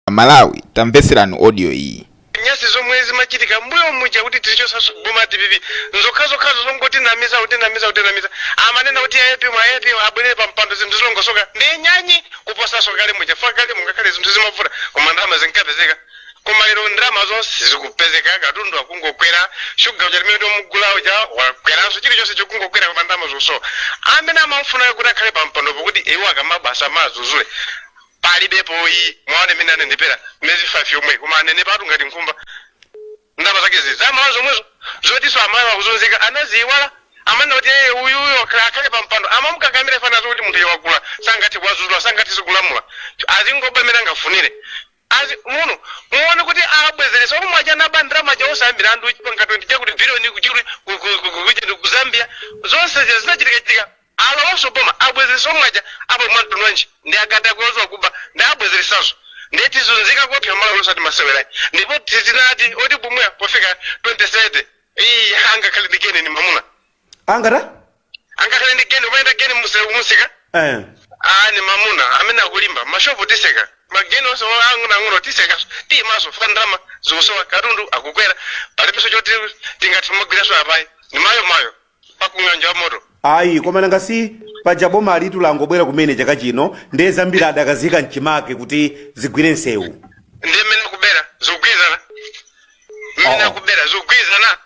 amalawi tamveserani audio iyi nyasi zomwe zimachitika mbuyo muja kuti tilichotse boma dpp nzokhazokhazo zongotinamiza kutinamiza kutinamiza amanena kuti apm apm abwerere pa mpando zinthu zilongosoka ndi nyanyi kuposaso kale muja chifukwa kale mungakhale zinthu zimavuta koma ndalama zinkapezeka koma lero ndalamazo sizikupezeka katundu akungokwera shuga uja limene tomugula uja wakweranso chilichonse chokungokwera koma ndalama zosowa amene amafunayo kuti akhale pa mpandopo kuti iwo akamaba asamadzudzule palibepo ayi muwaone mmene anenepera miyezi 5 yomwe koma anenepatu ngati nkhumba ndalama zake za amalawi zomwezo zotiso amalawi akuzunzika anaziiwala amanena kuti eye uyuyo akhale pa mpando amamukakamira fana zoti munthu iye wakula sangathe kuwazuzula sangathe zikulamula azingoba mmene angafunire azi muno muone kuti abwezeresa omwe aja anaba ndalama chausa milandu chipanga 20 chakuti biliyoni kuchiri ku- ku- ku- ku- ku- ku Zambia zonse zinachitika chitika Alowanso boma abwezeresa omwe aja apa mwantundu wanji ndi akatakwe odziwa kuba nde abwezeresaso nde tizunzika koopsa Malawi osati masewera ayi ndipo sitinati oti bumua pofika 2030 ii angakhale ndi geni ndi mamuna angata angakhale ndi geni umayenda geni muse- kumusika eh. aa ni mamuna amene akulimba mashopu tiseka mageni onse ang'onoang'ono tisekaso timaso chifukwa ndalama zikusowa katundu akukwera palibenso choti tingati magwiraso apayi ni mayo mayo kung'anjo ya moto ayi koma nanga si paja bomalitu langobwera kumene chaka chino ndiye zambiri adakaziika mchimake kuti zigwire msewu ndiye mmene akubera zogwirizana mmene Oh. akubera zogwirizana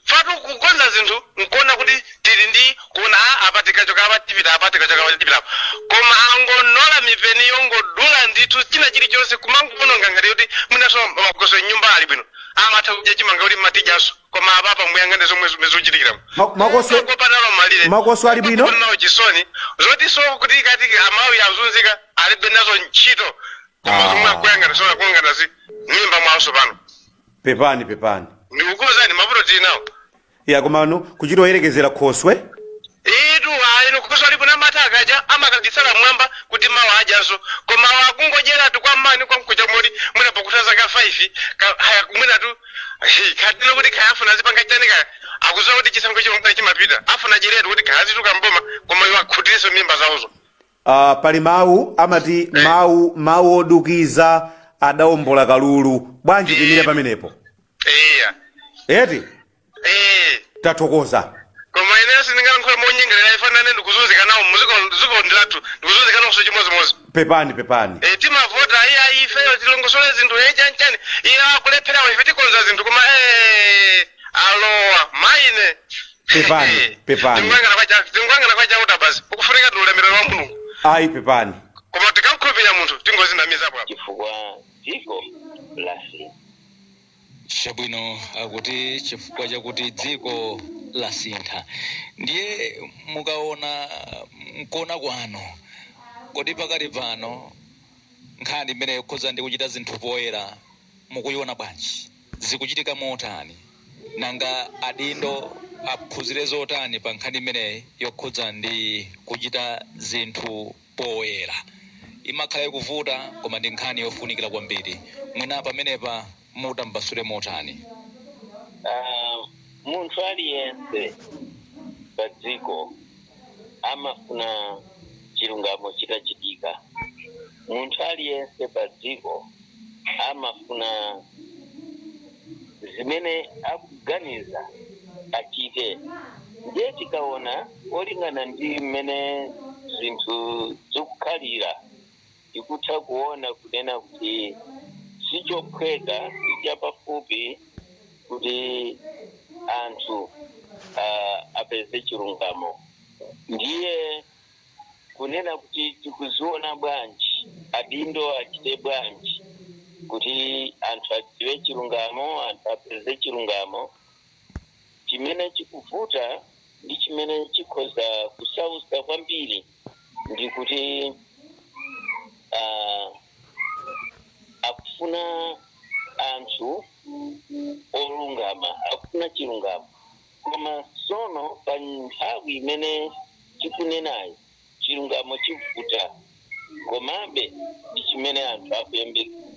chifukwatu kukonza zinthu nkuona kuti tili ndi kuona a apa tikachoka apa tipita apa tikachoka apa tipita apa koma angonola mipeni yongodula ndithu china chilichonse kumangoononga ngati kuti mwinaso makoswe mnyumba ali bwino amatha kudya chimanga kuti mawa tidyaso koma apapa muyang'ane zomwe zomwe zikuchitikira Ma- makoso- kopatalo malire makoswe ali bwino? nawo chisoni zoti so kuti kati amalawi azunzika alibe nazo ntchito koma Ah. zomwe akuyang'ana sona kuyang'ana za mmimba mwawonso pano pepani pepani ndikukuuzani mavuto tili nawo ya komano kuchita oyerekezera khoswe itu ayino khoswe ali bwino amati akadya amakagitsala mwamba kuti mawa adyanso koma akungodyeratu kwa mawa ndi kwa mkuja moti mwina pakutha zaka 5 ka- kaya kumwinatu kadilo kuti kaya afuna azipanga chani kaya akuziwa kuti chisankho chimapita chimapita afuna adyeretu kuti kaya azituluka mboma koma iwo akhutiritse mimba zawozo uh, pali mawu amati mawu mawu odukiza adaombola kalulu bwanji timire pamenepo iya eti ee tathokoza koma ineyo sindingalankhule monyengerera chifukwa nane ndikuzunzika nawo muziko ziko ndilathu ndikuzunzika nawo chimodzimodzi pepani pepani Eh, timavota iyayi ifeyo tilongosole zinthu eh, chani chani awa akulephera ife tikonza zinthu koma eh, alowa maine Pepani, pepani. Tingoyang'ana kwa cha- tingoyang'ana kwa chauta basi ukufunika ndi ulemerero wa mulungu ayi pepani koma tikamkhulupirira munthu tingodzinamizapo apa chifukwa dziko lasintha Chabwino, akuti chifukwa chakuti dziko lasintha. Ndiye mukaona, m'kuona kwanu, kodi pakali pano nkhani imeneyi yokhudza ndi kuchita zinthu poyera mukuiona bwanji? Zikuchitika motani? Nanga adindo aphunzire zotani pa nkhani imeneyi yokhudza ndi kuchita zinthu poyera. Imakhala ikuvuta koma ndi nkhani yofunikira kwambiri. Mwina pamenepa mutambasule motani? Munthu aliyense padziko amafuna chilungamo chitachitika. Munthu aliyense padziko. amafuna zimene akuganiza achite ndiye tikaona molingana ndi mmene zinthu zikukhalira tikutha kuona kunena kuti sichophweka chapafupi kuti anthu uh, apeze chilungamo ndiye kunena kuti tikuziona bwanji, adindo achite bwanji kuti anthu adziwe chilungamo, anthu apeze chilungamo. Chimene chikuvuta ndi chimene chikhoza kusausa kwambiri ndi kuti ah, akufuna anthu olungama, akufuna chilungamo. Koma tsono pa nthawi imene tikunenayo, chilungamo chivuta. Komabe ndi chimene anthu akuyembekeza.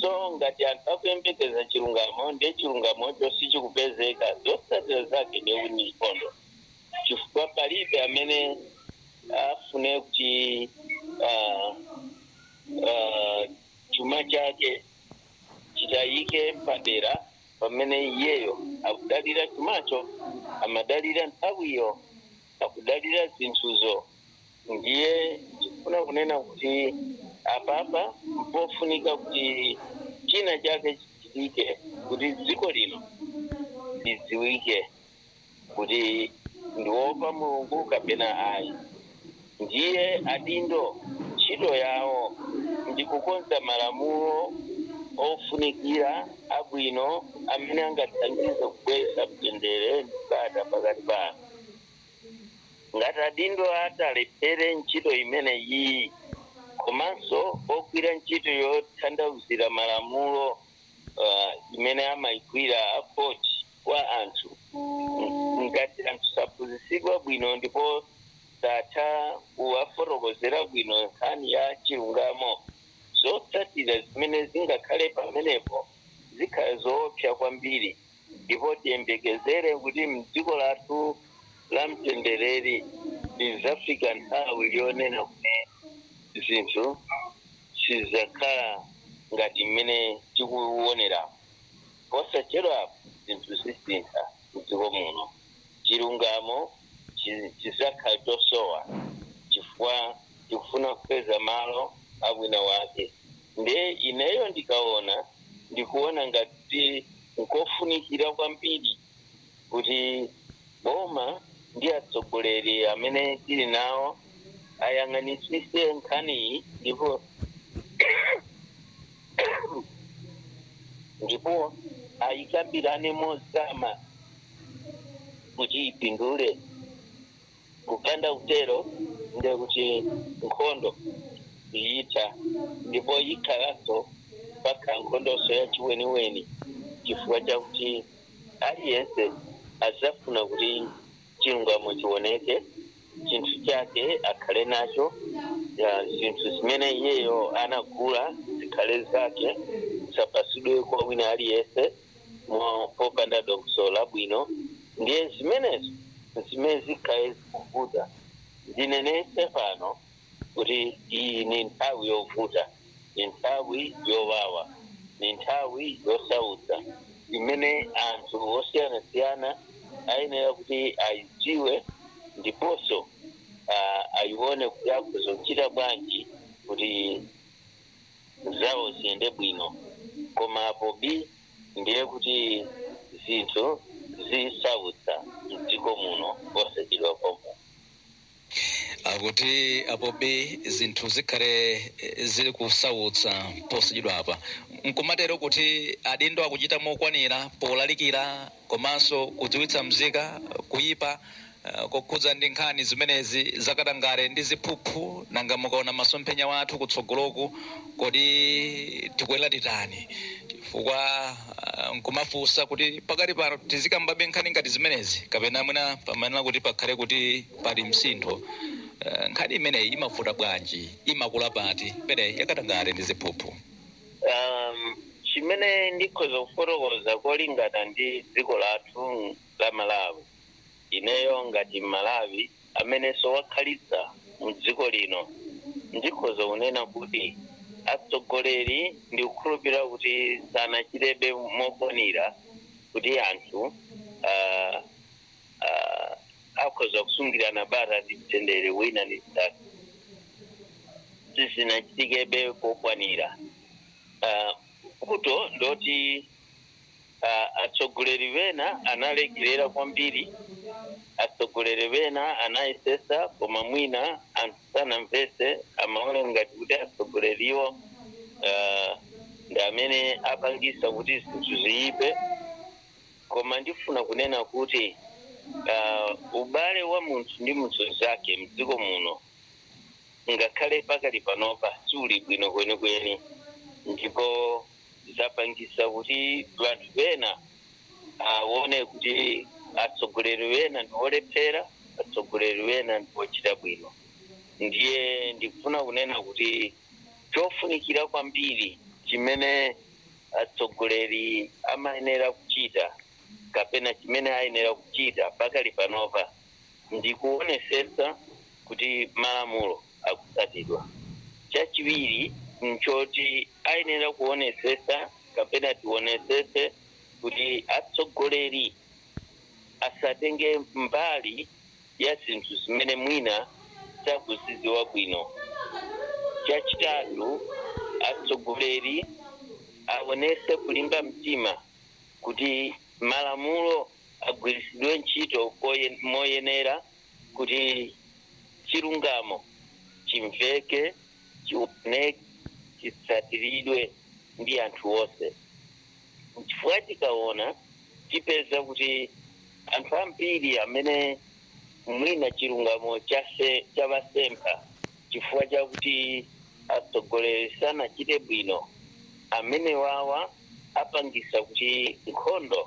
So ngati anthu akuyembekeza chilungamo ndiye chilungamocho sichikupezeka, zotsatira zake ndiye kuti ndi nkhondo, chifukwa palibe amene afune kuti ah, ah, chuma chake chitayike padera pamene iyeyo akudalira chumacho, amadalira nthawiyo, akudalira zinthuzo. Ndiye ndikufuna kunena kuti apapa mpofunika kuti china chake chichitike kuti dziko lino lidziwike. kuti ndiwopa mulungu kapena ayi ndiye adindo ntchito yawo ndi kukonza malamulo ofunikira abwino amene angathandize kubweretsa mtendere ndi bata pakati pa anthu ngati adindo atalephere ntchito imene iyi komanso ogwira ntchito yotanthauzira malamulo uh, imene amayigwira a khoti kwa anthu ng- ngati anthu saphunzitsidwa bwino ndipo satha kuwafotokozera bwino nkhani ya chilungamo zotsatira zimene zingakhale pamenepo zikhala zoopsa kwambiri ndipo tiyembekezere kuti mdziko lathu la mtendereri lizafika nthawi yonena kuti zinthu sizakhala ngati mmene tikuwonera Posachedwapa zinthu zisintha m'dziko muno. Chilungamo chi- chidzakhala chosowa chifukwa tikufuna kupeza malo a wina wake. Ndiye ineyo ndikaona, ndikuona ngati kuti n'kofunikira kwambiri. kuti boma ndi atsogoleri amene tili nawo ayang'anitsise nkhaniyi ndipo ndipo ayikambirane mozama kuti ipindule Kupanda kutero ndiye kuti nkhondo siitha ndipo ikhalanso pakhala nkhondonso yachiweniweni, chifukwa chakuti aliyense adzafuna kuti chilungamo chioneke, chinthu chake akhale nacho, zinthu zimene iyeyo anagula zikhale zake, zisapatsidwe kwa wina aliyense. mo- popanda dongosolo labwino ndiye zimenezo zimene zikhale zikuvuta ndinenese pano kuti iyi ni nthawi yovuta ni nthawi yowawa ni nthawi yosautsa imene anthu osiyanasiyana ayenera kuti ayidziwe ndiponso ah, ayione kuti akhoza kuchita bwanji kuti zawo ziyende bwino koma apo bi ndiye kuti zinthu zisautsa mdziko muno posachedwa pompa. Akuti apo bi zinthu zikhale zili kusautsa posachedwapa. Nkumatero kuti adindo akuchita mokwanira polalikira? komanso kudziwitsa mzika kuyipa kokhudza ndi nkhani zimenezi za katangale ndi ziphuphu, nanga mukaona masomphenya wathu kutsogoloku kodi tikuyenera titani chifukwa nkumafunsa kuti pakali pano tizikambabe nkhani ngati zimenezi kapena mwina pamayenera kuti pakhale kuti pali msintho. Nkhani imeneyi imavuta bwanji, imakula pati imeneyi ya katangale ndi ziphuphu? Um, chimene ndikhoza kufotokoza kolingana ndi dziko lathu la Malawi, ineyo ngati Mmalawi amenenso wakhalitsa mu dziko lino, ndikhoza kunena kuti atsogoleri ndikukhulupirira kuti sanachitebe mokwanira kuti anthu uh, uh, akhoza kusungirana bata ndi mtendere wina ndi mnzake sizinachitikebe kokwanira Ah, vuto ndoti ah, atsogoleri wena analekerera kwambiri atsogoleri wena anayesesa koma mwina anthu sanamvese amaona ngati kuti atsogoleriwo ah, ndi amene apangisa kuti zinthu ziyipe Koma ndifuna kunena kuti uh, ubale wa munthu ndi munthu mzake mdziko muno ngakhale pakali panopa siuli bwino kwenikweni, ndipo zapangisa kuti wanthu wena awone uh, kuti atsogoleri wena ndiwolephera, atsogoleri wena ndiwochita bwino. Ndiye ndikufuna kunena kuti chofunikira kwambiri chimene atsogoleri amayenera kuchita kapena chimene ayenera kuchita pakali panopa ndi kuonesesa kuti malamulo akutsatidwa chachiwiri nchoti ayenera kuonesesa kapena tionesese kuti atsogoleri asatenge mbali ya zinthu zimene mwina sakuzidziwa bwino. Chachitatu, atsogoleri aonese kulimba mtima kuti malamulo agwiritsidwe ntchito moyenera kuti chilungamo chimveke, chioneke, chitsatiridwe ndi anthu onse. Nchifukwa tikaona tipeza kuti anthu ambiri amene mwina chilungamo chawasempha chifukwa chakuti atsogoleri sanachite bwino, amenewawa apangisa kuti nkhondo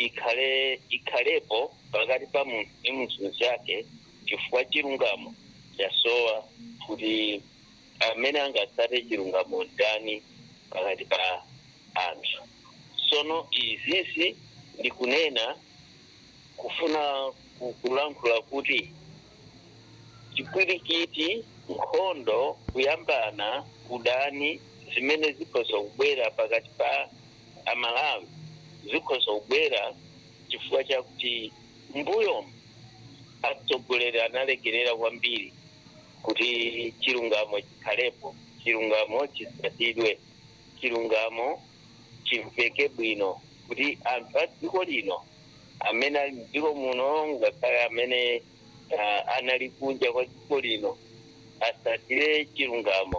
ikhale ikhalepo pakati pa munthu ndi munthu mzake chifukwa chilungamo chasowa kuti. amene angatsate chilungamo ndani pakati pa anthu sono izizi ndikunena kufuna ku- kulankhula kuti chipwirikiti nkhondo kuyambana udani zimene zikhoza kubwera pakati pa amalawi zikhoza kubwera chifukwa chakuti mbuyomu atsogoleri analekerera kwambiri kuti chilungamo chikhalepo, chilungamo chitsatidwe, chilungamo chimveke bwino kuti anthu a dziko lino, amene ali m'dziko muno ngakhale amene anali kunja kwa dziko lino, atsatire chilungamo.